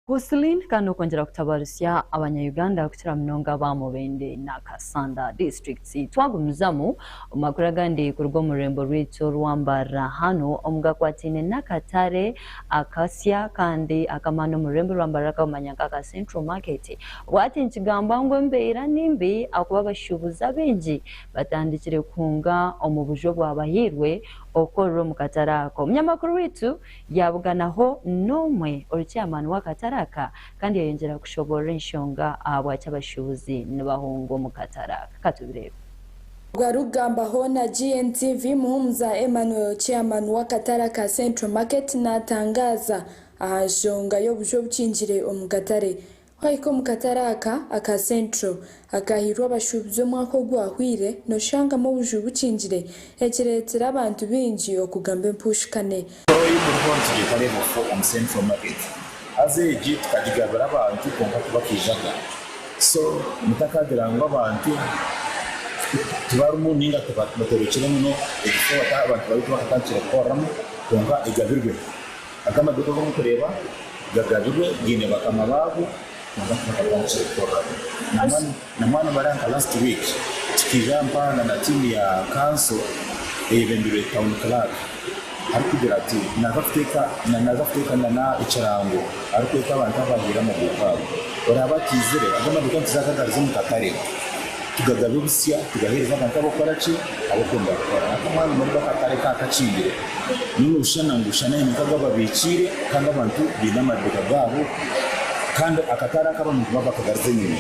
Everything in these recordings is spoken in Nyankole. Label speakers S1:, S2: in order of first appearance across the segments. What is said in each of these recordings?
S1: Husseline kandi okwongyera kutabarisya abanya Uganda kukira munonga aba Mubende na Kassanda districts. Twagumizamu, omu makuru agandi kuruga omu rurembo rwaitu orwa Mbarara hanu omu gakwataine n'akatare akasya kandi ak'amaani omu rurembo rwa Mbarara akabamanya nka aka Central Market obu hati nikigambwa ngu embeera ni mbi ahakuba abashuubuzi abaingi batandikire kuhunga omu buju obwabahairwe okukorera omu katare ako. Munyamakuru waitu. yaabuganaho n'omwe ori chairman w'akatare aka kandi yayongyera kushoboorora enshonga ahabwaki abashuubuzi nibahunga omu katare aka. Ka tubireebe. Ogwo
S2: arikugambaho na GNTV, Muhumuza Emmanuel, chairman w'akatare aka Central Market naatangaaza aha nshonga y'obuju obukingire omu katare Wahika omu katare aka aka Centro akaahairwe abashuubuzi omwaka ogwahweire, nooshangamu obuju bukingire ekireetire abantu baingi okugamba empuushikane. Toyi muriho nitugyetareebwa kufa
S3: omu Central Market. Haza egi tukagigabira abantu kwonka tibakaijaga. So mutakagira ngu abantu tibarimu nainga tibatorekire muno ekishushani eki abantu bari bakatandikire kukoreramu, kwonka egabirwe. Agamba nti, Obu abu orikureeba gagabirwe gaine bakama baago, nangwa tibakabura ahu kirikukoreraho. Nangwa nimara nka last week tukiija mpaana na tiimu ya kanso eyebembirwe town clerk arikugira ati, Naaza kuteeka naaza kuteeka nana ekirango arikweta abantu abu baahaire amaduuka ago. Oraaba ataizire agamba nti, Reka nkize agagarize omu katare. Tugagabe obusya, tugaheereze abantu ab'okukora ki? Ab'okwenda kukora. Naka mwanya omwe nibwo akatare ka kakingire. Nyowe nooshana ngu shana haine nk'agu ababikiire kandi abantu baine amaduuka gaabo kandi akatare ako abantu nibaba bakagarize enyima.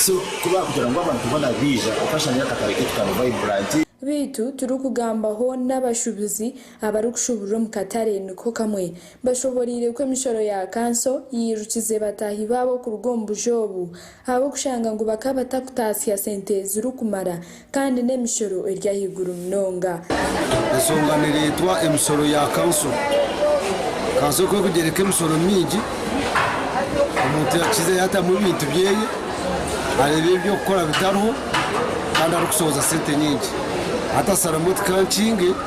S3: So ku baakugira ngu abantu boona baija, okashanga eri akatare kaitu ka Vibrant. Beitu
S2: turikugambaho n'abashubuzi abarikushuburira omu katare niko kamwe. Bashoboreire ku emishoro ya kanso yairukize bataahi baabo kuruga omu buja obu. ahabw'okushanga ngu bakaba batakutaasya sente zirikumara kandi n'emishoro eri ahaiguru munonga. Ensonga
S4: nereetwa emisoro ya kanso. Kanso ekaba erikugyereka emisoro mingi, omuntu yakiza yaatamu ebintu byeye, areeba eby'okukora bitariho kandi arikushohoza sente nyingi. Hati asalamu oti kankinge.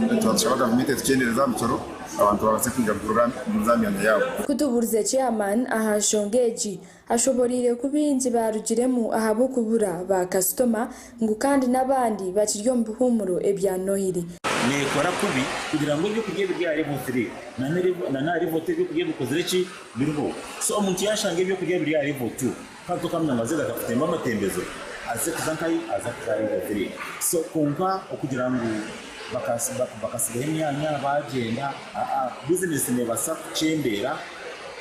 S3: Nitubaasa kushaba gavumenti etukyendereeze aha misoro abantu babaase kwija kutuura aha myanya yaabo. Ku tubuurize Chairman
S2: aha nshonga egi, ashoboreire ku baingi baarugiremu ahabw'okubura ba kasitoma ngu kandi n'abandi bakiri omu bihuumuro ebya Nohiri. Neekora kubi
S3: kugira ngu eby'okurya ebiri ahari Vote Leave na n'ahari Vote Eby'okurya Bikozire Ki? biriho. So omuntu yaashanga eby'okurya biri ahari Vote. Hati okamanya ngu azaire akakutemba amatembezo aze kuza nkayi aza kuza ari otire so konka okugira ngu bakatsigaho emyanya bagyenda aa buzinesi nebasa kukyendera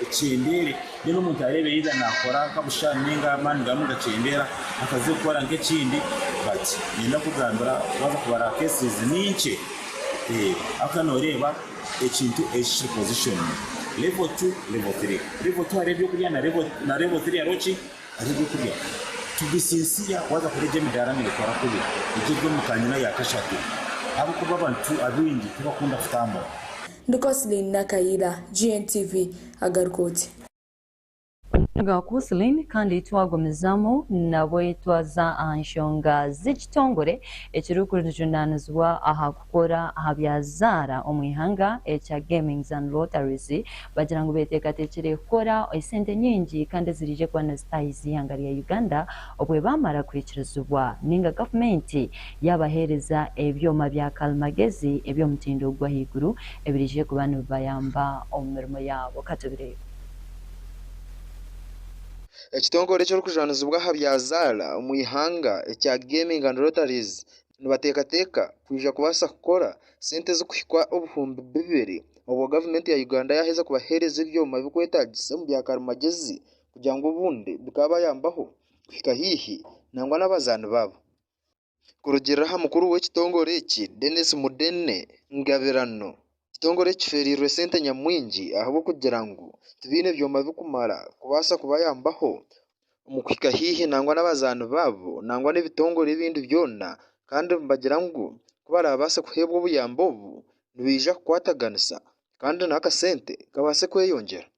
S3: ekyendere then omuntu arebe either nakora nka busha ninga amani gamu nigakyendera akaze kukora nka ekindi but ninyenda kukugambira waza kubara cases ninkye aka noreba Ekintu eki kiri position level two level three level two hariho ebyokurya na level na level three hariho ki hariho ebyokurya to be sincere waza kureeba egi emidaara neetwara kubi egi eri omu kanyina ya kashatu ahabw'okuba abantu abaingi tibakunda kutambura. Ndi Coslin
S2: Nakayiira, GNTV, agaruka oti. Nga
S1: Courcelin kandi twagumizamu nabwe twaza aha nshonga z'ekitongore ekirikujunanizibwa aha kukora aha bya zaara omu ihanga ekya Gamings and Lotteries bagira ngu beteekateekire kukora esente nyingi kandi eziraije kuba nizitahiisa ihanga rya Uganda obwebamara kuhikirizibwa ninga gavumenti yabaheereza ebyoma bya karimagezi eby'omutindo gwahaiguru ebiraije kuba nibibayamba omu mirimo yaabo. Katubireebe.
S5: Ekitongore eky'orukujwanizibwa aha bya zaara omu ihanga ekya Gaming and Lotteries nibateekateeka kwija kubaasa kukora sente ezikuhika obuhumbi bibiri obwo gavumenti ya Uganda yaaheza kubahereza ebyoma ebirikwetaagisa omu bya karimagyezi kugira ngu obundi bikaabayambaho kuhika haihi nangwa n'abazaani baabo. Kurugiirira aha mukuru w'ekitongore eki, Denis Mudenne Ngabirano, ekitongore eki kifeereirwe sente nyamwingi ahabw'okugira ngu tibaine byoma bikumara kubaasa kubayambaho omu kuhika haihi nangwa n'abazaani baabo nangwa n'ebitongore ebindi byona kandi nibagira ngu ku baraabaase kuheebwa obuyambi obu nibaija kukwataganisa kandi n'akasente kabaase kweyongyera.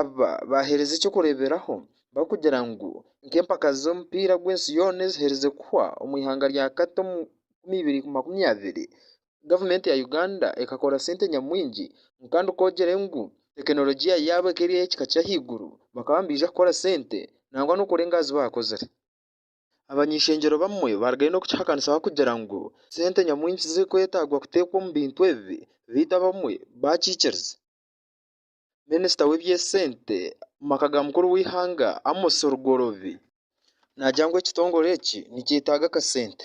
S6: Aba
S5: baaheereza eky'okureeberaho barikugira ngu nk'empaka z'omupiira gw'ensi yoona eziherize kuhwa omu ihanga rya Qatar omu enkumi ibiri makumi abiri, gavumenti ya Uganda ekakora sente nyamwingi kandi ku ogyire ngu tekinologiya yaabo ekaba eri ey'ekika ky'ahaiguru bakaba nibaija kukora sente nangwa n'okurenga aha zi baakozire. Abany'ishengyero bamwe barigayo n'okukihakanisa barikugira ngu sente nyamwingi zirikwetaagwa kuteekwa omu bintu ebi beitu abamwe baakikiriza. Minisita w'eby'esente omu maka ga mukuru w'eihanga Amos Rugorobi naagira ngu ekitongore eki nikyetaaga akasente.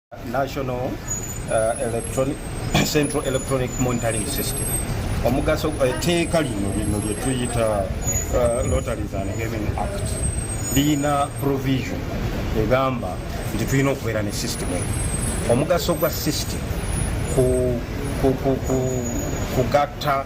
S5: National
S6: Central Electronic Monitoring System, omugaso, eteeka rino rino ryetuyita Lotteries and Gaming Act riine provision egamba nti twine okubeera ne system egi. Omugaso gwa system ku ku ku ku kugatta.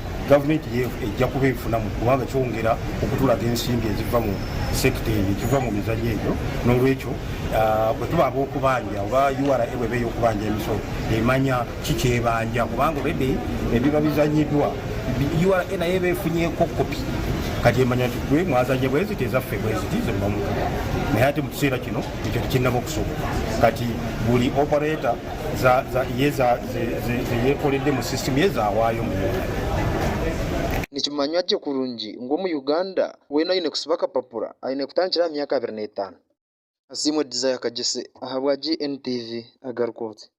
S6: Gavumenti yeehu eija kuba ebifunamu kubanga kyongera okuturaga ensimbi eziva mu sekita eyo, eziva mu mizari egyo. N'orwekyo bwe tuba ab'okubanja oba ura bw'eba ey'okubanja emisoro, emanya ki ki ebanja kubanga oredi ebiba bizanyidwa ura nayo eba efunye kopi kati emanya nti gwe mwazanya bwe ziti ezaffe bwe ziti zirugamu kopi. Naye hati mu kiseera kino ekyo tikirinaba okusoboka kati buri opareta. Nikimanywa
S5: gye kurungi ngu Omuyuganda weena aine kusiba akapapura aine kutandikira aha myaka abiri n'etaano. Asiimwe Desire Kagyese ahabwa GNTV agaruka oti.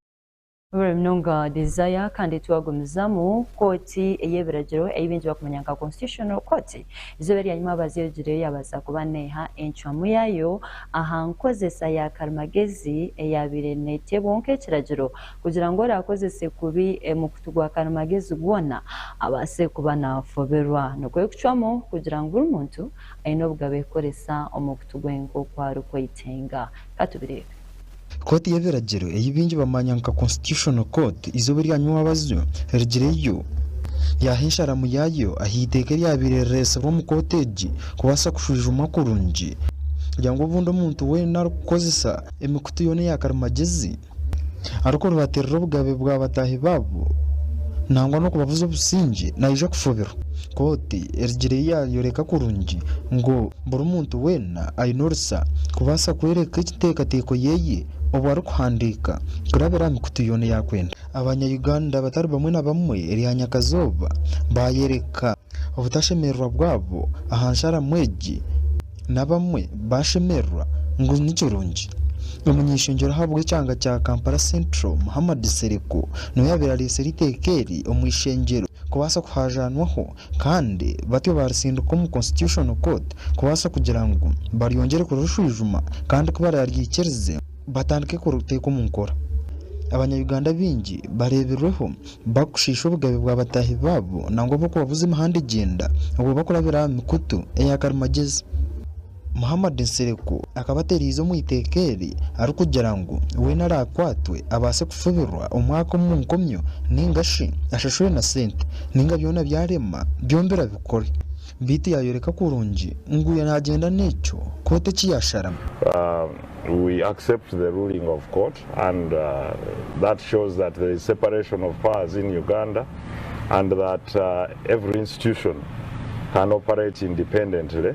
S5: Buri
S1: munonga Desire kandi twagumizamu kooti ey'ebiragiro ei baingi bakumanya nka Constitutional Court. Eizooba eryanyima abazyogireyo yabaasa kuba neeha encwamu yaayo aha nkozesa ya karimagezi eyaabaire neeteebwaho nk'ekiragiro kugira ngu oraakozese kubi mukutu gwa karimagezi gwona abaase kuba naafoberwa. Nikwo kucwamu kugira ngu buri muntu aine obugabe kukoresa omukutu gwe nk'oku arikwetenga. Ka tubireebe. Kooti
S7: y'ebiragiro ei baingi bamanya nka Constitutional Court eizooba erya nywabazi erigireyo yaaha ensharamu yaayo aha iteeka eryabaire rireetsirwe omu kooti egi kubaasa kushwijumwa kurungi kugira ngu obundi omuntu weena arikukozesa emikutu yoona eya karimagyezi arikuribatirira obugabe bwa bataahi baabo nangwa n'okubabuza obusingye naija kufubirwa. Kooti erigireyo yaayoreka kurungi ngu Buri muntu weena aine orusa kubaasa kworeka ekiteekateeko yeeye obu arikuhandiika kurabira aha mikutu yoona eyi akwenda. Abanya Uganda abatari bamwe na bamwe erya nyakazooba baayereka obutashemererwa bwabo aha nsharamu egi n'abamwe baashemererwa ngu nikirungi. Omunyeshongyero ahabw'ekyanga kya Kampala Central Muhammad Nsereko niwe yaabaire areetsire eiteeka eri omu ishengyero kubaasa kuhaajanwaho Kandi batyo baaritsindika omu Constitutional Court kubaasa kugira ngu baryongyere kurishwijuma kandi ku baraaryikirize batandike kuriteeka omu nkora. Abanya-Uganda baingi bareebirweho barikushiisha obugabe bwa bataahi baabo nangwa b'okubabuza emihanda egyenda obwo barikurabira aha mikutu eya karimagyezi. Muhammad Nsereko akaba atereize omu iteeka eri arikugira ngu weena araakwatwe abaase kufubirwa omwaka omu nkomyo nainga shi ashashurwe na sente nainga byona byarema byombi abikore beitu yaayoreka kurungi ngu weena naagyenda n'ekyo kooti eki yaasharamu.
S8: We accept the ruling of court and that shows that there is separation of powers in Uganda and that every institution can operate independently.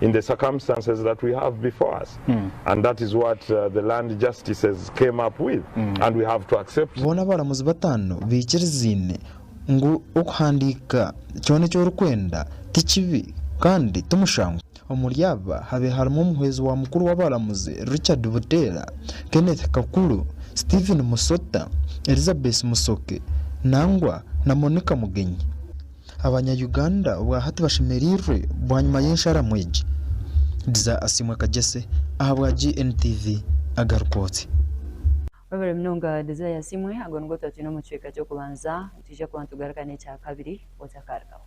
S8: in the circumstances that we have before us and that is what the land justices came up with and we have to accept. Boona abaramuzi bataano
S7: baikirizaine ngu okuhandiika kyona eki orikwenda ti kibi kandi ti mushangwa. Omuri aba habe harimu omuhwezi wa mukuru w'abaramuzi Richard Buteera, Kenneth Kakuru, Stephen Musota, Elizabeth Musoke, nangwa na Monica Mugenyi. Abanya Uganda obwa hati bashemereirwe bwanyima y'ensharamu egi? Diza Asiimwe Kagyese ahabwa GNTV agaruka oti.
S1: Webare munonga Desire Asiimwe, ago nigo twatwine omu kicweka ky'okubanza, nitwija kuba nitugaruka n'ekyakabiri otakaarugaho.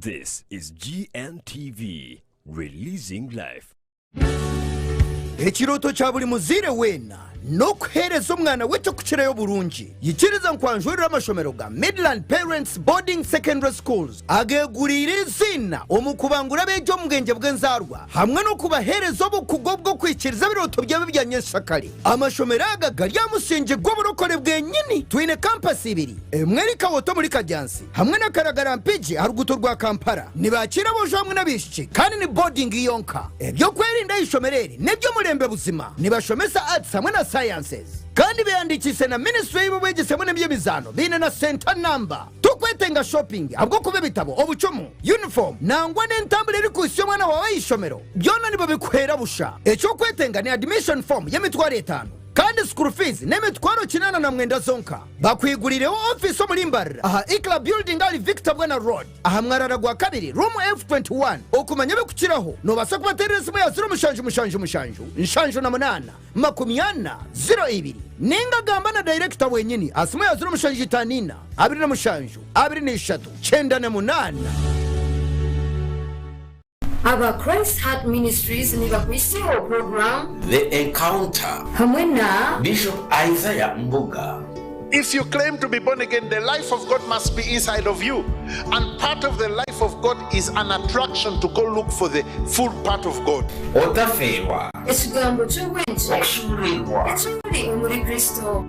S9: This is GNTV, releasing life. Ekirooto
S10: kya buri muzaire weena n'okuheereza omwana we eky'okukirayo oburungi. Yikiriza ngu anjwereire amashomero ga Midland Parents Boarding Secondary Schools ageeguriire eiziina omu kubangura abeegi omu bwengye bw'enzaarwa hamwe n'okubaheereza obukugu obw'okwikiriza ebirooto byabo ebya nyenkyakare. Amashomero aga gari aha musingi gw'oburokore bwenyini. Twine kampasi ibiri. Emwe eri Kawota omuri Kadyansi hamwe na Karagara Mpigi aha ruguuto rwa Kampala. Nibakiira aboojo hamwe n'abaishiki kandi ni boodingi yonka. Eby'okwerinda aha ishomero eri n'eby'omulembe buzima. Nibashomesa Arts hamwe na Sciences. Kandi beehandiikiise na minisitule y'eby'obwegyese hamwe n'eby'emizaano. Baine na senta namba. Torikwetenga shopping ahabw'okuba ebitabo, obucumu, yunifoomu nangwa n'entambura erikuhitsya omwana waawe aha ishomero byona nibabikuheera busha. Eky'okwetenga ni admission form y'emitwaro etaano kandi school fees n'emitwaro kinaana na mwenda zonka. Bakwigurireho ofiisi omuri Mbarara aha Ikla Building ahari Victor Bwana Road aha mwarara gwa kabiri, Room F21. Okumanya ebikukiraho, nobaasa kubaterera esimu ya ziro mushanju mushanju mushanju nshanju na munaana makumi ana ziro ibiri ninga gamba na dayirekita wenyini aha simu ya ziro mushanju itaano ina abiri na mushanju abiri na ishatu kyenda na munaana.
S11: Aba Christ Heart Ministries nibakwiseho puroguramu. The Encounter
S12: hamwe na.
S11: Bishop Isaiah
S12: Mbuga. If you claim
S13: to be born again the life of God must be inside of you and part of the life of God is an attraction to go look for the full part of God. Otafeerwa. Ekigambo
S12: ky'obwengye. Okushuururirwa.
S11: Ekimuri omuri Kristo.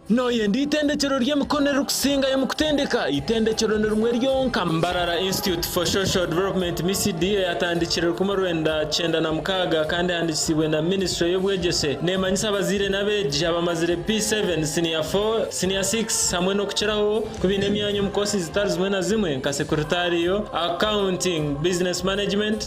S14: Nooyenda Eitendekyero ry'Emikono Eririkusingayo omu Kutendeka? Eitendekyero ni rimwe ryonka Mbarara Institute for Social Development, MICD, eyatandikire rukumi orwenda kyenda na mukaaga kandi ehandiikisiibwe na minisitule y'obwegyese, neemanyisa abazaire n'abeegi abamazire P-seven, Siniya four, Siniya six hamwe n'okukiraho ku baine emyanya omu koosi zitari zimwe na zimwe nka Sekuritario, Accounting, Business Management,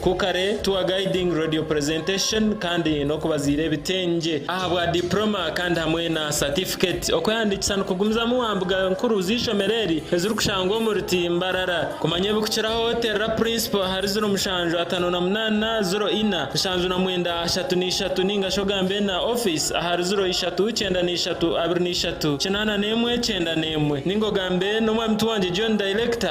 S14: Ku kare tour guiding, radio presentation kandi n'okubaziira ebitengye ahabwa diploma kandi hamwe na certificate. Okwehandiikisa nikugumizamu wa mbuga nkuru z'eishomero eri ezirikushangwa omuri ti Mbarara. Kumanya ebikukiraho terera Principal ahari ziro mushanju atano na munana ziro ina nshanju na mwenda ashatu na ishatu ningashi ogambe na office ahari ziro ishatu kyenda na ishatu abiri na ishatu kinana n'emwe kyenda n'emwe ninga ogambe n'Omwami Tiwangye John Director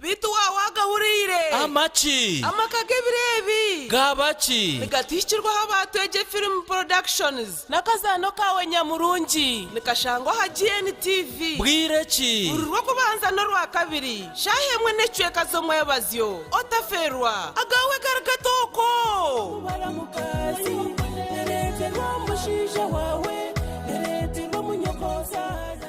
S15: Beitu waaba waagahuriire. Amaki? Amaka g'ebiro
S16: ebi. Gaaba ki?
S15: Nigatihikirwaho aba
S16: Twegye Film Productions n'akazaano kaawe nyamurungi. Nikashangwa aha GNTV. Bwire ki? Buri
S15: Rwokubanza
S16: n'Orwakabiri, shaaha emwe n'ekicweka z'omwebazyo. Otaferwa! Agaawe gari gatooko! Kubara mukazi, tereeterwa omushaija waawe, tereeterwa omunyokoozaara.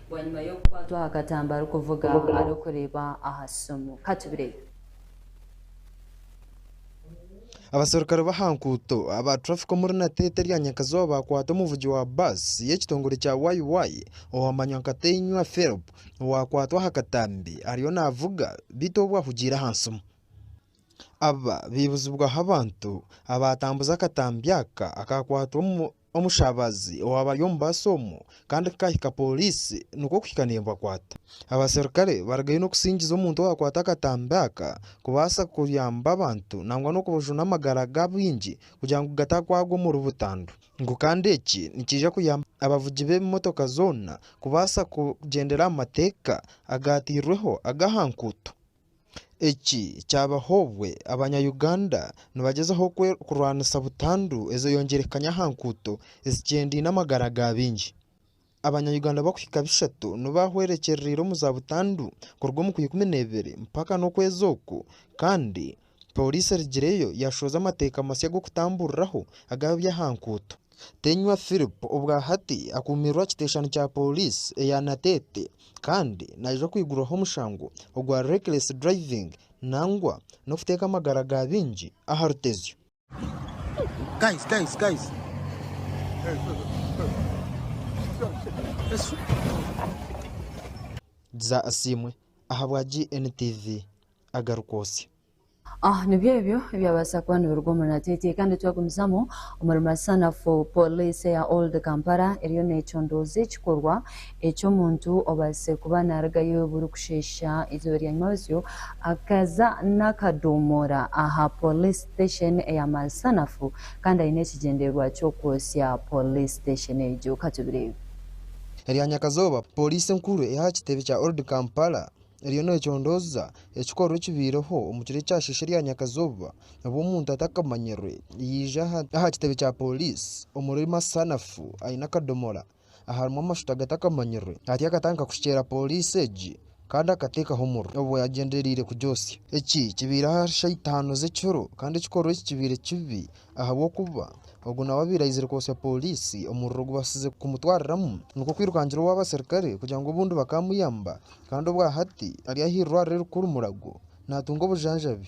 S1: bwanyima y'okukwatwa aha katambi arikuvuga arikureeba
S7: aha simu. Ka tubireebe. Abaserukare b'aha nkuuto aba traffic omuri Nateete erya Nyakazooba baakwata omuvugi wa bus y'ekitongore kya YY owamanywa nka Teinywa Philp owaakwatwa aha katambi ariyo naavuga beitu obu ahugiire aha nsimu. Aba baibuzibwaho abantu abaatambuza akatambi aka akaakwatwa omu Omushabazi owaaba ari omu baasi omu kandi kukahika pooriisi nikwo kuhika neebakwata. Abaserukare barugayo n'okusingiza omuntu owaakwata akatambi aka kubaasa kuyamba abantu nangwa n'okubajuna amagara g'abaingi kugira ngu gatakwagwa omuri butandu. Ngu kandi eki nikiija kuyamba abavugi b'ebimotoka zoona kubaasa kugyendera aha mateeka agaateirweho ag'aha nguuto. Eki kyabaho obwe abanya Uganda nibagyezaho kurwanisa butandu ezoyongyerekaanya aha nkuuto ezikyendine amagara ga baingi. Abanya Uganda bakuhika bishatu nibo bahwerekyererire omu za butandu kuruga omu kwa ikumi nebiri mpaka nokwezi oku kandi Pooriisi erigireyo yaashohoza amateeka masya g'okutamburiraho aga byahankuuto. Tenywa Philip obwa hati akuumiirwe aha kiteeshani kya pooriisi eya Nateete kandi naija kwigurwaho omushango ogwa reckless driving nangwa n'okuteeka amagara ga baingi aha rutezyo. Guys, guys,
S10: guys.
S7: Yesu. Gza Asiimwe ahabwa GNTV agarikwotsya. Ah,
S1: nibyo ebyo ebyabaasa kuba nibiruga omu Natete. Kandi twagumizamu omuri masanafu, Poliisi eya Old Kampala eriyo neecondooza ekikorwa Eki omuntu obaasize kuba naarugayo burikusheesha eizooba rya nyimabatsyo akaza n'akadoomora aha Police Station eya Malsanafu kandi aine ekigyendererwa ky'okwotsya Police Station egyo. Ka tubireebe. Erya
S7: nyakazooba Poliisi enkuru ey'aha kitebe kya Old Kampala eriyo neecondooza ekikorwa ekibaireho omu kiro ekyasheesha erya nyakazooba obwo omuntu atakamanyirwe yaija aha kitebe kya Poliisi omuri Malsanafu aine akadoomora. aharimu amashuta agatakamanyirwe hati akatandika kushukyera pooriisi egi kandi akateekaho omuriro obu yaagyendereire kugyosya. Eki kibaire ahari shaaha itaano z'ekiro kandi ekikorwa eki kibaire kibi ahabw'okuba ogu nawe abaire aizire kwotsya pooriisi omuriro gubaasize kumutwariramu nikwo kwirukangira ow'abaserukare kugira ngu obundi bakaamuyamba kandi obwa hati ari ah'eirwariro erikuru Murago naatunga obujanjabi.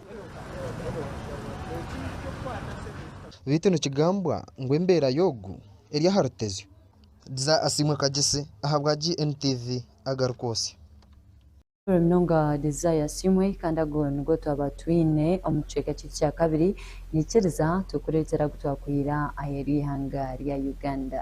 S7: Beitu nikigambwa ngu embeera y'ogu eri aha rutezyo. Dza asiimwe Kagyesi ahabwa GNTV agarikwotsya. Shukuru
S1: munonga Desire Asiimwe kandi ago nigo twaba twine omu kicweka kyeitu kya kabiri nyikiriza tukureetera agu twakwira aheeru y'eihanga rya Uganda.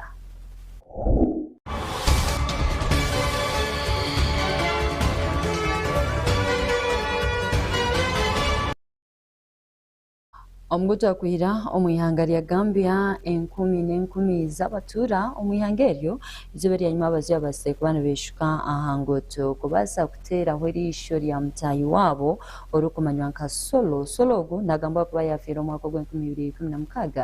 S1: Omu gutwakwira omu ihanga rya Gambia, enkumi n'enkumi z'abatuura omu ihanga eryo izooba eryanyima abazyo babaasire kuba nibeeshuka aha nguuto kubaasa kuteeraho eriisho rya mutaahi waabo orikumanywa nka Solo. Solo ogu naagambwa kuba yaafiire omwaka ogw'enkumi ibiri ikumi na mukaaga.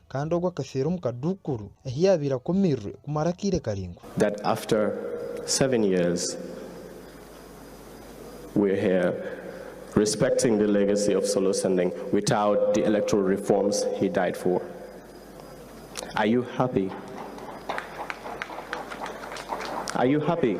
S7: Kandi ogwo akafeera omu kaduukuru ahi yaabaire akomiirwe kumara akaire karaingwa. That after
S17: seven years we're here respecting the legacy of Solo Sending without the electoral reforms he died for. Are you happy? Are you happy?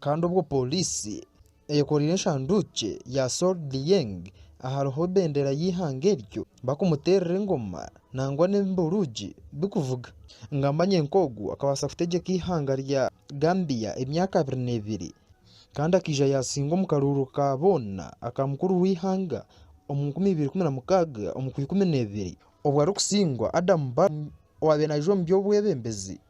S7: Kandi obwo pooriisi eyekoreire eshanduukye ya Sol Lieng ahariho bendera y'eihanga eryo bakumuteerera engoma nangwa n'emburuugi bikuvuga. Ngamba nye nk'ogu akabaasa kutegyeka eihanga rya Gambia emyaka abiri n'ebiri kandi akaija yaasinga omu karuuru ka boona aka mukuru w'eihanga omu nkumi ibiri ikumi na mukaaga omu kwa ikumi n'ebiri obwo arikusingwa Adam Barrow owaabaire naija omu by'obwebembezi.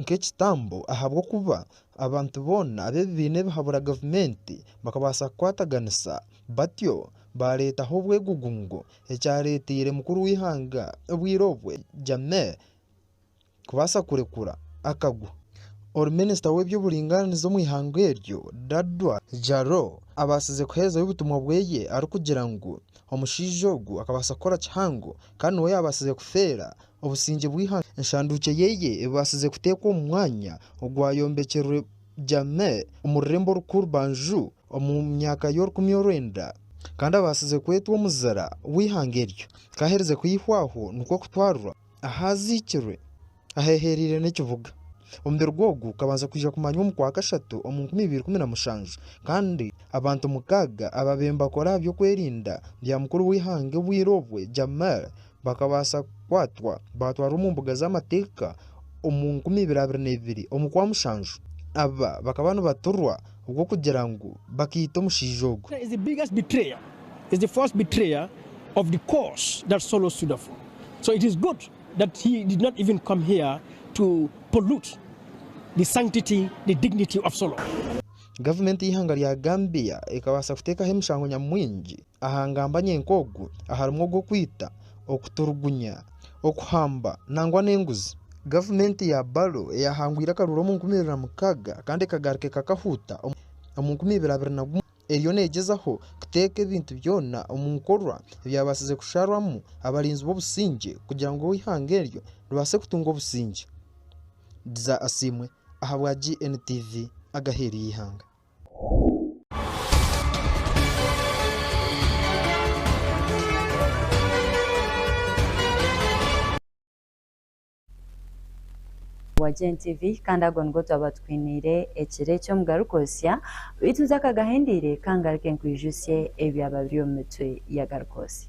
S7: nk'ekitambo ahabw'okuba abantu boona ab'ebibiina ebihabura gavumenti bakabaasa kukwataganisa batyo baareetaho obwegugungo ekyareeteire mukuru w'eihanga obwire obwe Jammeh kubaasa kurekura akagwa. Ori minisita w'eby'oburingaaniza omu ihanga eryo Dadwa Jalo abaasize kuherezayo obutumwa bweye arikugira ngu omushaija ogwo akabaasa kukora kihango kandi niwe yaabaasize kufeera Obusingye bw'eihanga. Enshanduukye yeye ebaasize kuteekwa omu mwanya ogwayombekyerwe Jahmeh omu rurembo orukuru Banju omu myaka y'orukumi orwenda, kandi abaasize kwetwa omuzira w'eihanga eryo. Kaaherize kwihwaho nikwo kutwarwa ahu aziikirwe ahehereire n'ekibuga. Omubiri gwe ogu kabanza kwija kumanywa omu kwa kashatu omu nkumi ibiri kumi na mushanju, kandi abantu mukaaga abaabaire nibakora aha by'okwerinda bya mukuru w'eihanga obwire obwe Jahmeh Bakabaasa kukwatwa baatwarwa omu mbuga z'amateeka omu nkumi ibiri abiri na ibiri omu kwa mushanju. Aba bakaba nibaturwa obwo kugira ngu bakaita omushaija ogu.
S18: Gavumenti y'eihanga
S7: rya Gambia ekabaasa kuteekaho emishango nyamwingi. Aha ngambanye nk'ogu harimu ogw'okwita, okuturugunya, okuhamba nangwa n'enguzi. Gavumenti ya Barrow eyahangwire akaruru omu nkumi ibiri na mukaaga kandi ekagaruka ekakahuuta omu nkumi ibiri abiri na gumwe eriyo neegyezaho kuteeka ebintu byona omu nkorwa ebyabaasize kusharwamu abarinzi b'obusingye kugira ngu eihanga eryo ribaase kutunga obusingye. Dza Asiimwe ahabwa GNTV agaheeru y'eihanga.
S1: wa GNTV kandi ago nigo twaba tukwiniire ekiro eki omu Garukootsya, beitu ntakagahindiire ka ngaruke nkwijutsye ebyaba biri omu mitwe ya Garukootsya.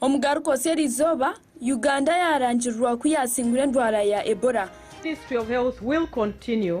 S4: Omugaruka Oseeri
S2: Izooba, Uganda yaarangirirwa ku yaasingura endwara ya Ebola. Ministry of Health
S19: will continue.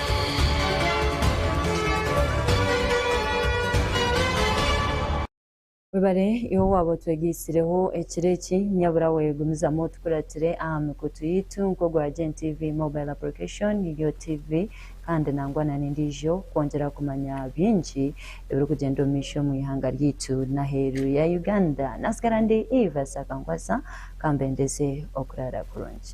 S1: Webare iwe owaaba otwegaitsireho ekiro eki, nyaburawe gumizamu otukuratire aha mikutu yaitu nk'ogwa Gen TV Mobile Application, Yo TV kandi nangwa na n'endiijo kwongyera kumanya bingi ebirikugyenda omu maisho omu ihanga ryaitu n'aheeru ya Uganda. Naatsigara ndi Eva Ssakankwasa, ka mbendeze okuraara kurungi.